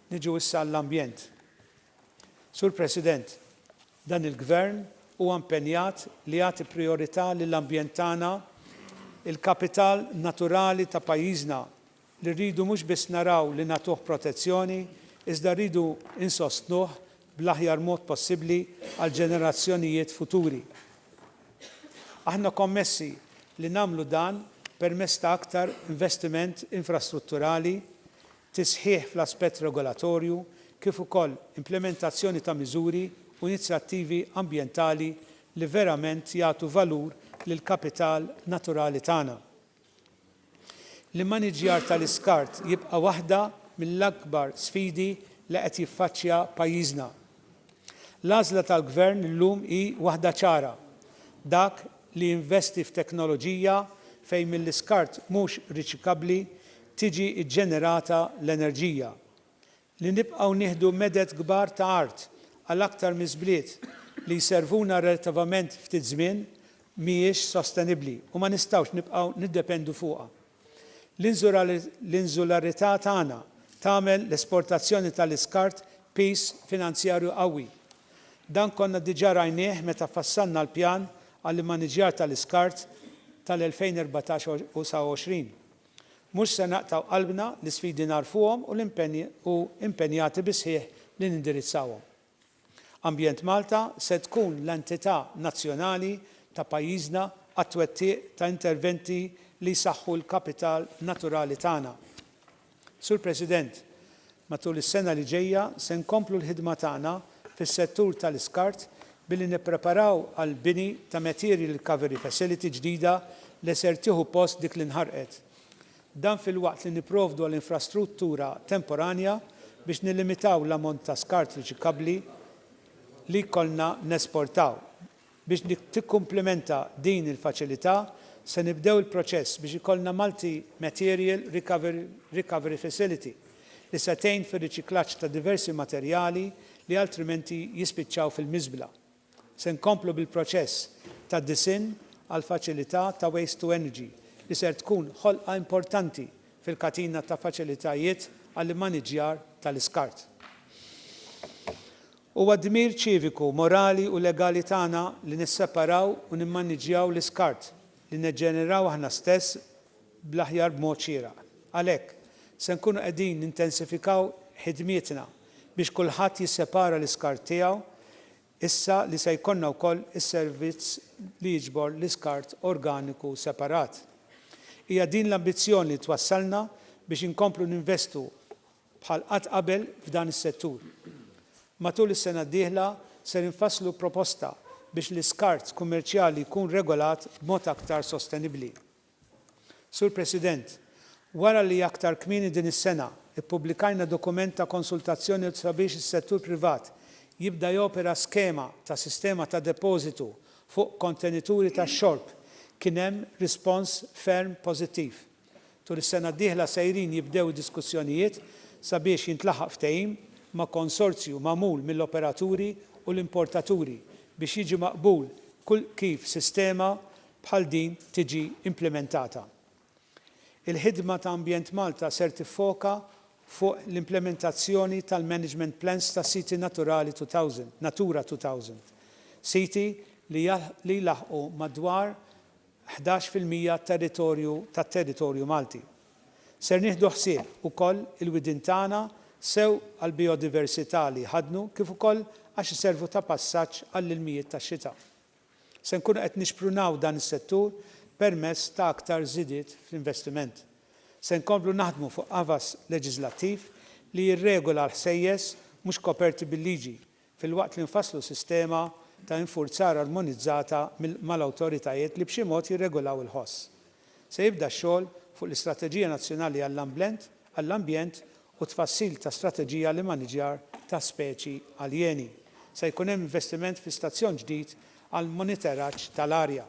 Niġu issa għall-ambjent. Sur President, dan il-Gvern huwa impenjat li jagħti prijorità lill-ambjent tagħna, il-kapital naturali ta' pajjiżna, li rridu mhux biss naraw li nagħtuh protezzjoni iżda rridu insostnuh bl-aħjar mod possibbli għall-ġenerazzjonijiet futuri. Aħna kommessi li nagħmlu dan permezz ta' aktar investiment infrastrutturali, tisħiħ fl-aspett regolatorju kif ukoll implimentazzjoni ta' miżuri u inizjattivi ambjentali li verament jagħtu valur lill-kapital naturali tagħna. L-immaniġġjar tal-iskart jibqa' waħda mill-akbar sfidi li qed jiffaċċja pajjiżna. L-għażla tal-Gvern illum hi waħda ċara, dak li jinvesti f'teknoloġija fejn mill-iskart mhux riċikabbli tiġi ġġenerata l-enerġija. li nibqgħu nieħdu meded kbar ta' art għal aktar minn bliet li jservuna relattivament ftit żmien mhijiex sostenibbli u ma nistgħux nibqgħu niddependu fuqha. L-inżularità tagħna tagħmel l-esportazzjoni tal-iskart piż finanzjarju qawwi. Dan konna diġà rajnieh meta fassalna l-Pjan għall-Immaniġġjar tal-Iskart tal-2014 u sa 2020. Mhux se naqtgħu qalbna, l-isfidi nagħrfuhom u u impenjati bis-sħiħ li nindirizzawhom. Ambjent Malta se tkun l-entità nazzjonali ta' pajjiżna għat-twettiq ta' interventi li jsaħħu l-kapital naturali tagħna. Sur President, Matul is-sena li ġejja se nkomplu l-ħidma tagħna fis-settur tal-iskart billi nippreparaw għall-bini ta' Material Recovery Facility ġdida li ser tieħu post dik li nħarqet. Dan filwaqt li nipprovdu għal infrastruttura temporanja biex nillimitaw l-ammont ta' skart riċikabbli li jkollna nesportaw. Biex tikkumplimenta din il-faċilità, se nibdew il-proċess biex ikollna Multi Material Recovery Facility li se tgħin fir-riċiklaġġ ta' diversi materjali li altrimenti jispiċċaw fil-miżbla. Se nkomplu bil-proċess ta' disinn għall-faċilità ta' Waste to Energy li ser tkun ħolqa importanti fil-katina ta' faċilitajiet għall-immaniġġjar tal-iskart. Huwa dmir ċiviku, morali u legali tagħna li nisseparaw u nimmaniġġjaw l-iskart li neġġenerawh aħna stess bl-aħjar b'mod xieraq. Għalhekk, se nkunu qegħdin nintensifikaw ħidmietna biex kulħadd jissepara l-iskart tiegħu issa li se jkollna wkoll is-servizz li jiġbor l-iskart organiku separat. Hija din l-ambizzjoni li twassalna biex inkomplu ninvestu bħal qatt qabel f'dan is-settur. Matul is-sena d-dieħla ser infasslu proposta biex l-iskart kummerċjali jkun regolat b'mod aktar sostenibbli. Sur President, wara li aktar kmieni din is-sena ppubblikajna dokument ta' konsultazzjoni sabiex is-settur privat jibda jopera skema ta' sistema ta' depożitu fuq kontenituri tax-xorb, kien hemm rispons ferm pożittiv. Tul is-sena d-dieħla sejrin jibdew id-diskussjonijiet sabiex jintlaħaq ftehim ma' konsorzju magħmul mill-operaturi u l-importaturi biex jiġi maqbul kif sistema bħal din tiġi implimentata. Il-ħidma ta' Ambjent Malta ser tiffoka fuq l-implimentazzjoni tal-Management Plans ta' Siti Naturali 2000, Natura 2000, siti li jlaħqu madwar ħdax fil-mija territorju tat-territorju Malti. Ser nieħdu ħsieb ukoll il-widien tagħna sew għall-bijodiversità li jħaddnu kif ukoll għax iservu ta' passaġġ għall-ilmijiet tax-xita. Se nkunu qed nixprunaw dan is-settur permezz ta' aktar żidiet fl-investiment. Se nkomplu naħdmu fuq qafas leġiżlattiv li jirregola l-ħsejjes mhux koperti bil-liġi filwaqt li nfasslu sistema ta' infurzar armonizzata mal-awtoritajiet li b'xi mod jirregolaw il-ħoss. Se jibda x-xogħol fuq l-Istrateġija Nazzjonali għall-Ambjent u t-tfassil ta' strateġija għall-immaniġġjar ta' speċi aljeni. Se jkun hemm investiment fi stazzjon ġdid għall-monitoraġġ tal-arja.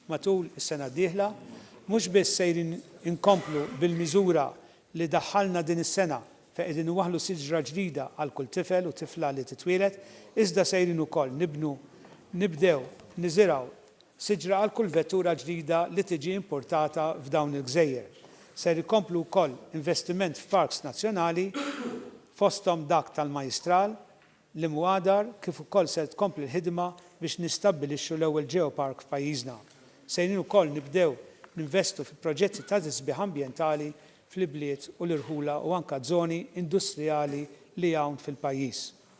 Matul is-sena d-dieħla mhux biss sejrin inkomplu bil-miżura li daħħalna din is-sena fejn qegħdin iwaħħlu siġra ġdida għal kull tifel u tifla li titwieled, iżda sejrin ukoll nibnu, nibdew niżirgħu siġra għal kull vettura ġdida li tiġi impurtata f'dawn il-gżejjer. Ser ikomplu wkoll investiment f'parks nazzjonali fosthom dak tal-Majjistral l-imwadar kif ukoll ser tkompli l-ħidma biex nistabbilixxu l-ewwel Geopark f'pajjiżna. Sejrin ukoll nibdew ninvestu fi proġetti ta' tisbiħ ambjentali fl-ibliet u l-irħula u anka żoni industrijali li hawn fil-pajjiż.